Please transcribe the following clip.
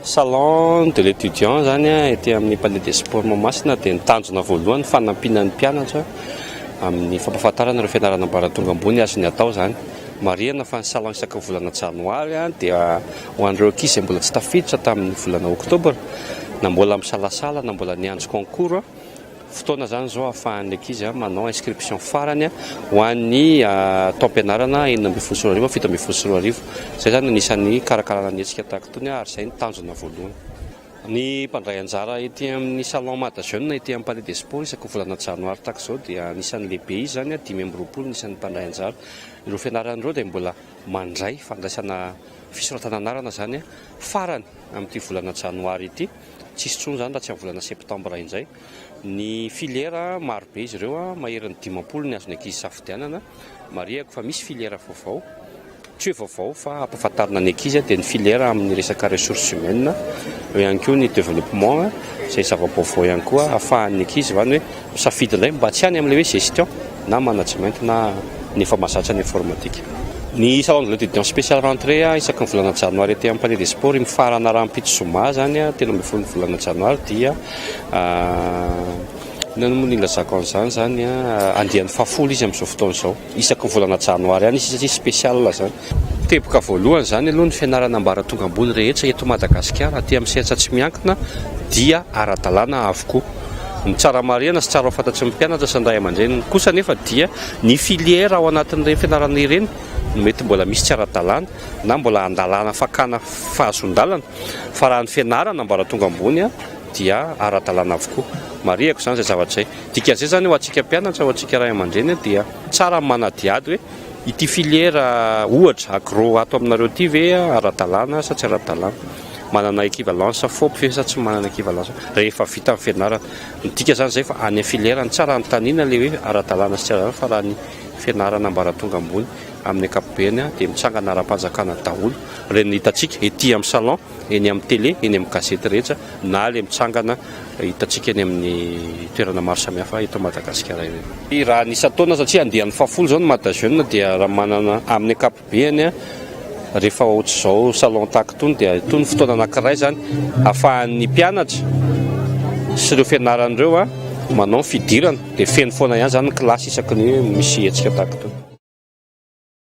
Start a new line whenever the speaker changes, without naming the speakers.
Salon de l'étudiant zany ety amin'ny palais des sports Mahamasina dia ny tanjona voalohany fanampiana ny mpianatra amin'ny fampahafantarana ireo fianarana ambaratonga ambony azony atao izany. Marihana fa ny salon isaka volana janoary dia ho an'ireo ankizy izay mbola tsy tafiditra tamin'ny volana oktobra na mbola misalasala na mbola niandry concours. Fotoana izany izao ahafahan'ny ankizy manao inscription farany ho an'ny taom-pianarana enina ambin'ny folo sy roa arivo, fito ambin'ny folo sy roa arivo. Izay izany no anisan'ny hikarakarana ny hetsika tahaka itony ary izay no tanjona voalohany. Ny mpandray anjara ety amin'ny Salon Mada Jeune ety amin'ny Palais des Sports isaky ny volana janoary tahaka izao dia anisan'ny lehibe izy izany, dimy amby roapolo ny isan'ny mpandray anjara. Ireo fianarana ireo dia mbola mandray fandraisana fisoratana anarana izany farany amin'ity volana janoary ity. tsy hisy intsony izany raha tsy amin'ny volana septambra indray. Ny filiera, maro be izy ireo, maherin'ny dimampolo ny azon'ny ankizy isafidianana. Marihako fa misy filiera vaovao, tsy hoe vaovao fa ampahafantarina ny ankizy, dia ny filiera amin'ny resaka ressources humaines, eo ihany koa ny developpement, izay zava-baovao ihany koa, ahafahan'ny ankizy izany hoe Misafidy indray mba tsy any amin'ilay hoe gestion na management na ny efa mahazatra ny informatique. Ny salon de l'etudiant spécial rentrée isaky ny volana janoary aty amin'ny palais des sports mifarana rahampitso zoma izany telo ambin'ny folo ny volana janoary dia inona moa no ilazako an'izany izany andiany fahafolo izy amin'izao fotoana izao. isaky ny volana janoary any satria spécial izany. Teboka voalohany izany aloha ny fianarana ambaratonga ambony rehetra eto Madagasikara aty amin'ny sehatsa tsy miankina dia ara-dalàna avokoa. Ny tsara marihana sy tsara ho fantatry ny mpianatra sy ny ray aman-dreniny kosa anefa dia ny filière ao anatin'ireny fianarana ireny no mety mbola misy tsy ara-dalàna na mbola andalana fakana fahazoan-dalana fa raha ny fianarana ambaratonga ambony dia ara-dalàna avokoa. Marihako izany izay zavatra izay. Dikan'izay izany ho antsika mpianatra, ho antsika ray aman-dreny dia tsara ny manadihady hoe ity filiera ohatra agro ato aminareo ity ve ara-dalàna sa tsy ara-dalàna, manana équivalence fop ve sa tsy manana équivalence rehefa vita ny fianarana. Ny dika izany izay fa any filiera no tsara anontaniana ilay hoe ara-dalàna sy tsy ara-dalàna fa raha ny fianarana ambaratonga ambony amin'ny ankapobeny dia mitsangana ara-panjakana daholo ireny hitantsika ety amin'ny salon. eny amin'ny tele, eny amin'ny gazety rehetra na ilay mitsangana hitantsika eny amin'ny toerana maro samihafa eto Madagasikara ireny. Raha ny isan-taona satria andiany fahafolo izao ny Mada Jeune dia raha manana amin'ny ankapobeany rehefa ohatr'izao salon tac itony dia itony ny fotoana anankiray izany ahafahan'ny mpianatra sy ireo fianarana ireo manao ny fidirana dia feno foana ihany izany ny kilasy isaky ny hoe misy hetsika tahaka itony.